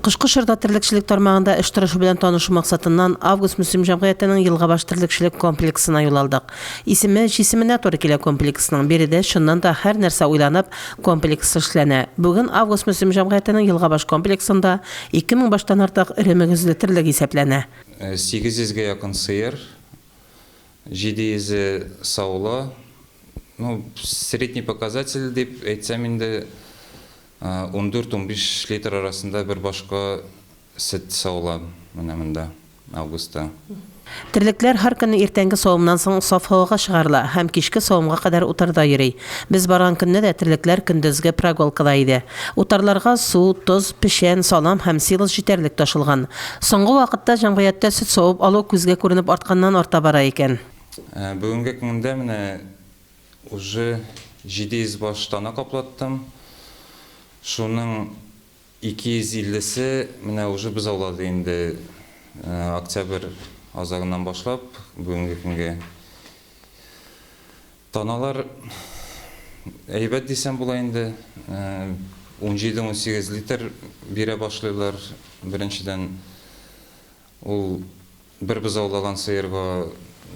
Кышкы чорда терлекчелек тармагында эш торышы белән танышу максатыннан Август Мөслим җәмгыятенең Елгабаш терлекчелек комплексына юл алдык. Исеме җисеменә туры килә комплексның. Биредә чыннан да һәр нәрсә уйланып, комплекс эшләнә. Бүген Август Мөслим җәмгыятенең Елгабаш комплексында 2000 баштан артык эре мөгезле терлек исәпләнә. 800 гә якын сыер, 700 е саулы. Ну, средний показатель дип әйтсәм инде, Ундүрт-унбиш литр арасында бер башка сөт савыла менә монда, августта. Терлекләр һәр көнне иртәнге савымнан соң саф һавага чыгарыла һәм кичке савымга кадәр утарда йөри. Без барган көнне дә терлекләр көндезге прогулкада иде. Утарларга су, тоз, печән, салам һәм силос җитәрлек ташылган. Соңгы вакытта җәмгыятьтә сөт савып алу күзгә күренеп артканнан-арта бара икән. Бүгенге көндә менә Уже 700 баш тана каплаттым. Шуның 250 се менә уже без аулады инде октябрь азагыннан башлап бүгенге көнгә. Таналар әйбәт дисәм була инде, унҗиде-унсигез литр бирә башлыйлар беренчедән. Ул бер бозаулаган сыерга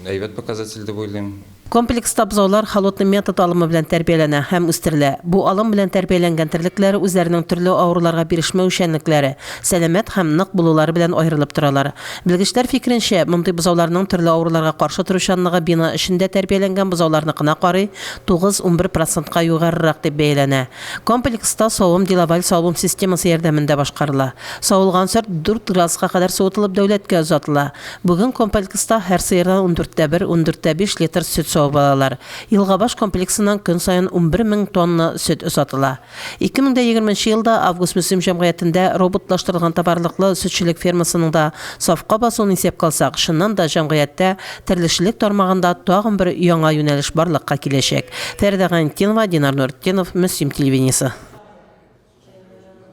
әйбәт показатель дип уйлыйм. Комплекста бозаулар холодный метод алымы белән тәрбияләнә һәм үстерелә. Бу алым белән тәрбияләнгән терлекләр үзләренең төрле авыруларга бирешмәү эшчәнлекләре, сәламәт һәм нык булулары белән аерылып торалар. Белгечләр фикеренчә, мондый бозауларның төрле авыруларга каршы торучанлыгы бина эчендә тәрбияләнгән бозауларныкына карый тугыз-унбер процентка югарырак дип бәяләнә. Комплекста савым Делаваль савым системасы ярдәмендә башкарыла. Савылган сорт дүрт градуска кадәр суытылып дәүләткә озатыла. Бүген комплекста һәр сыердан ундүрттә бер, ундүрттә биш литр сөт савып алалар. Елгабаш комплексыннан көн саен унбер мең тонна сөт озатыла. Ике мең дә егерме нче елда Август Мөслим җәмгыятендә роботлаштырылган товарлыклы сөтчелек фермасының да сафка басуын исәпкә алсак, чыннан да җәмгыятьтә Терлекчелек тармагында тагын бер яңа юнәлеш барлыкка киләчәк. Фәридә Гайнетдинова, Динар Нуретдинов, Мөслим телевидениесе.